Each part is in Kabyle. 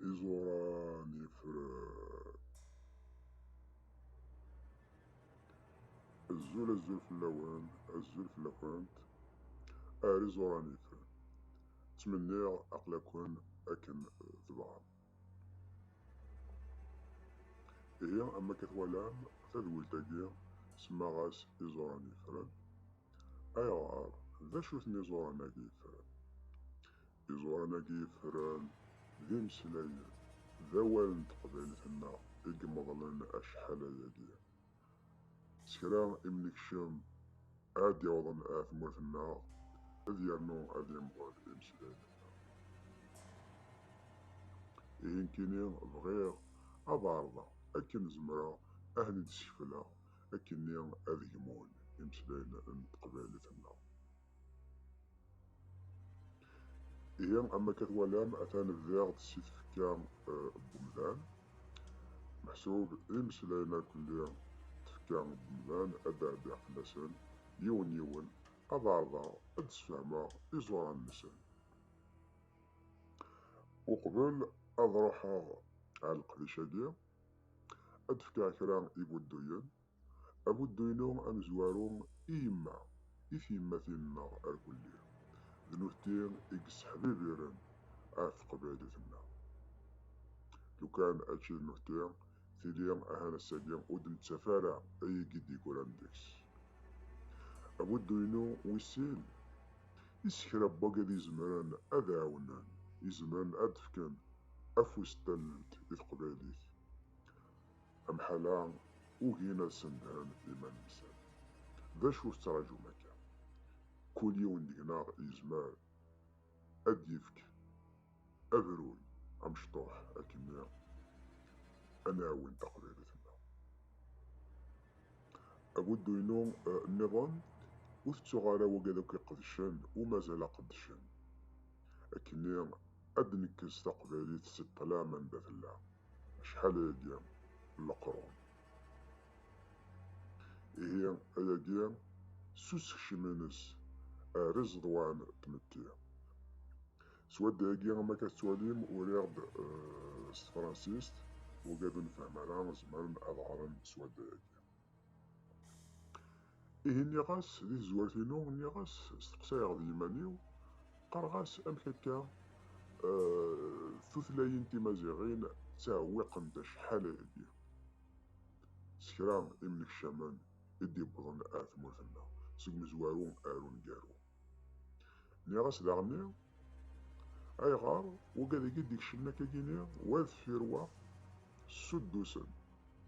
Iẓuran yefren. Azul azul fell-awen, azul fell-akent. Ar iẓuran yefren. Ttmenniɣ aql-aken akken tebɣam. Ihi, am akka twalam tadwilt-agi, semmaɣ-as iẓuran yefren. Ayɣer? D acu-ten iẓuran-agi yefran? Iẓuran-agi yefran d imeslayen, d awal n teqbaylit-nneɣ i imeḍlen acḥal ayagi. S kra imnekcem ara d-yawḍen ar tmurt-nneɣ, ad yernu ad yemḍel imeslayen-nneɣ. Ihi nekkini bɣiɣ ad ɛerḍeɣ akken zemreɣ ad ten-id-skefleɣ akkenni ad gmun imeslayen n teqbaylit-nneɣ. Ihi, am akka twalam, atan bdiɣ-d si tfekka n umdan. Meḥsub imeslayen akk n tfekka n umdan ad d-ɛeddiɣ fell-asen yiwen yiwen, ad ɛerḍeɣ ad d-sfehmeɣ iẓuran-nsen. Uqbel ad ruḥeɣ ɣer leqdic-agi, Ad d-fkeɣ kra ibudduyen. Abuddu-inu amezwaru i yemma, i tyemmatin-nneɣ arkelli. D nutni i yesseḥbibiren ɣef teqbaylit-nneɣ. Lukan ačči d nutni, tili ahan ass-agi ur d-nettaf ara ayagi i d-yeggran deg-s. Abuddu-inu wis sin, i s kra n wagad izemren ad ɛawnen, izemren ad d-fken afus d tallelt i teqbaylit. Amḥal-a ugin ad sendhen iman-nsen. D acu ur tettraǧum akka? Kul yiwen deg-neɣ yezmer ad d-yefk abrun amecṭuḥ akken ad nɛawen taqbaylit-nneɣ. Abuddu-inu eh, nniḍen, ur tettuɣ ara wagad akk iqedcen u mazal aqeddcen. Akkenni Ad d-nekkes taqbaylit si ṭṭlam anda tella, acḥal ayagi n leqrun. Ihi ayagi s usekcem-ines ar iẓeḍwan n tmetti. S wadda-agi am akka tettwalim uriɣ-d s tefransist, ugaden fhem ara zemren ad ɣren s wadda-agi. Ihi nniɣ-as di tezwart-inu, nniɣ-as, steqsayeɣ d yiman-iw, qqareɣ-as amek akka tutlayin timaziɣin ttɛewwiqent acḥal-agi s kra imnekcamen i d-iwwḍen ar tmurt-nneɣ seg umezwaru ar uneggaru. Nniɣ-as daɣenni, ayɣer waggadagi i d-ikecmen akkagini, wa deffir wa, ssuddusen,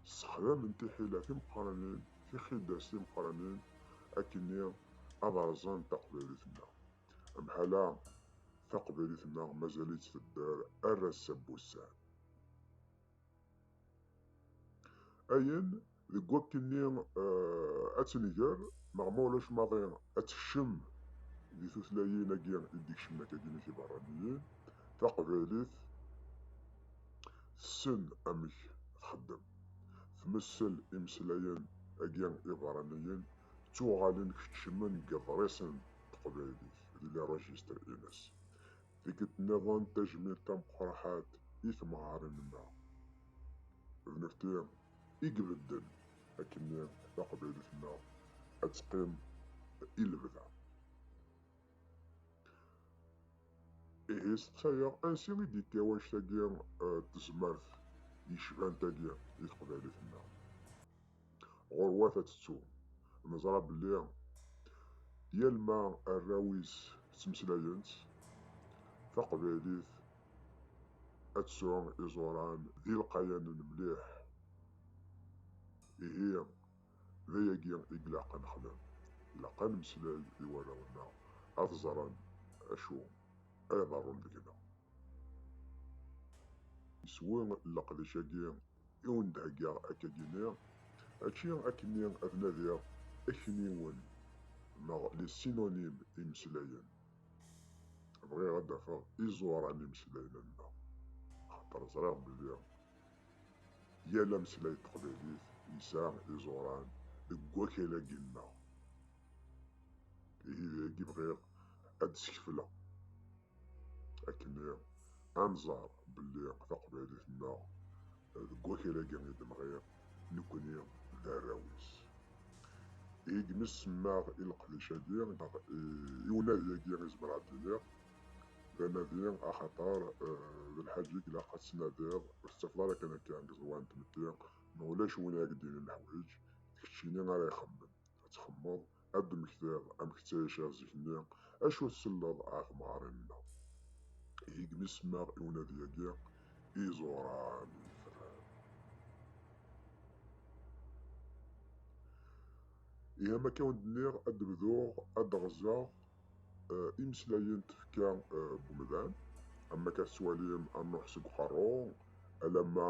ssexdamen tiḥila timeqqranin, tixidas timeqqranin, akkenni ad rẓen taqbaylit-nneɣ. Mḥala taqbaylit-nneɣ mazal-itt tedder ar ass-a n wussan. Ayen deg wakk-nni eh, ad tt-nger, neɣ ma ulac maḍi ad tekcem di tutlayin-agi i d-ikecmen akadimik iberraniyen, taqbaylit tessen amek txeddem. Tmessel imeslayen-agi iberraniyen ttuɣalen kecmen deg iḍrisen n teqbaylit, di les registres-ines. Tikkelt niḍen tajmilt tameqraḥat i temɣarin ma d nefti i ibedden akkenni taqbaylit ma ad teqqim i lebda. Ihi seqsayeɣ ansi i d-yekka wanect-agi tezmert yecban tagi i teqbaylit ma. ɣurwat ad tettu. Neẓra belli yal ma arraw-is ttmeslayen-tt taqbaylit ad tesɛu iẓuran d ilqayanen mliḥ. Ihi d ayagi i ilaq ad nexdem, ilaq ad nemmeslay i warraw-nneɣ ad ẓren acu ara iḍerrun deg-neɣ. Iswi n leqdic-agi i wen-d-heggaɣ akka ginni, ačči akkenni ad nadiɣ akniwen neɣ les synonymes imeslayen. Bɣiɣ ad d-afeɣ iẓuran imeslayen-nneɣ, axaṭer ẓriɣ belli yal ameslay n teqbaylit yesɛa iẓuran deg wakal-agi-nneɣ. Ihi d ayagi bɣiɣ ad d-skefleɣ. akken ad nẓer belli taqbaylit-nneɣ deg wakal-agi i d-nɣiɣ nekkni d arraw-is. Ihi imi semmaɣ i leqdic-agi neɣ i unadi-agi i zemreɣ ad d-iniɣ d anadi axaṭer d lḥaǧa i ilaq ad tt-tnadiḍ ur tettafeḍ ara kan akka deg ẓẓwan n tmetti ma ulac win ara ak-d-yinin leḥwayeǧ d keččini ara ixemmen ad txemmeḍ ad d-temmektiḍ amek ttɛiceɣ zik-nni, acu tselleḍ a temɣarin-nneɣ? Igmi semmaɣ i unadi-agi iẓuran yetran. Ihi am akka wen-d-nniɣ ad d-bduɣ ad d-ɣzeɣ eh, imeslayen tefka eh, n umdan, am akka tettwalim a Nuḥ seg uqerru, alamma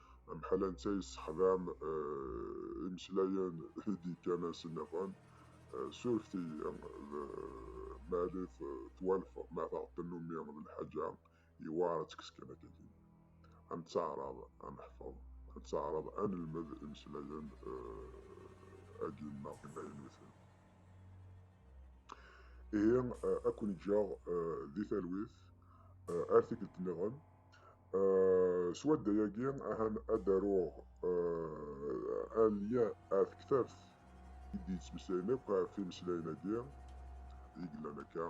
Amḥal anta yessexdam imeslayen i d-yekkan-as nniḍen, surfet-iyi d Malit twalfeḍ ma taɣ tennumi d lḥaǧa yewɛer ad tekkes kan akkagi. Ad nettaɛraḍ ad neḥfeḍ, ad nettaɛraḍ ad nelmed imeslayen agi nneɣ imaynuten. Ihi ad ken-ǧǧeɣ di talwit ar tikkelt nniḍen. Swadda yagi ahan ad aruɣ alya ar tektabt i d-yettmeslayen akk ɣef imeslayen-agi i yellan akka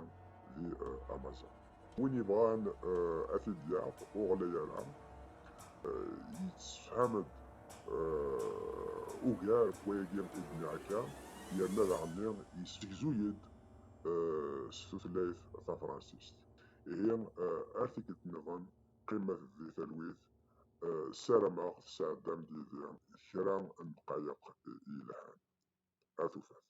di Amazon. Win yebɣan ad t-id-yaɣ ur ɣlay ara, yettsefham-d ugar n wayagi i d-nniɣ akka yerna daɣenni yessegzu-yi-d s tutlayt tafransist. Ihi ar tikkelt nniḍen qqimet di talwit, ssarameɣ tesɛeddam-d yid-i kra n ddqayeq yelhan. Ar tufat.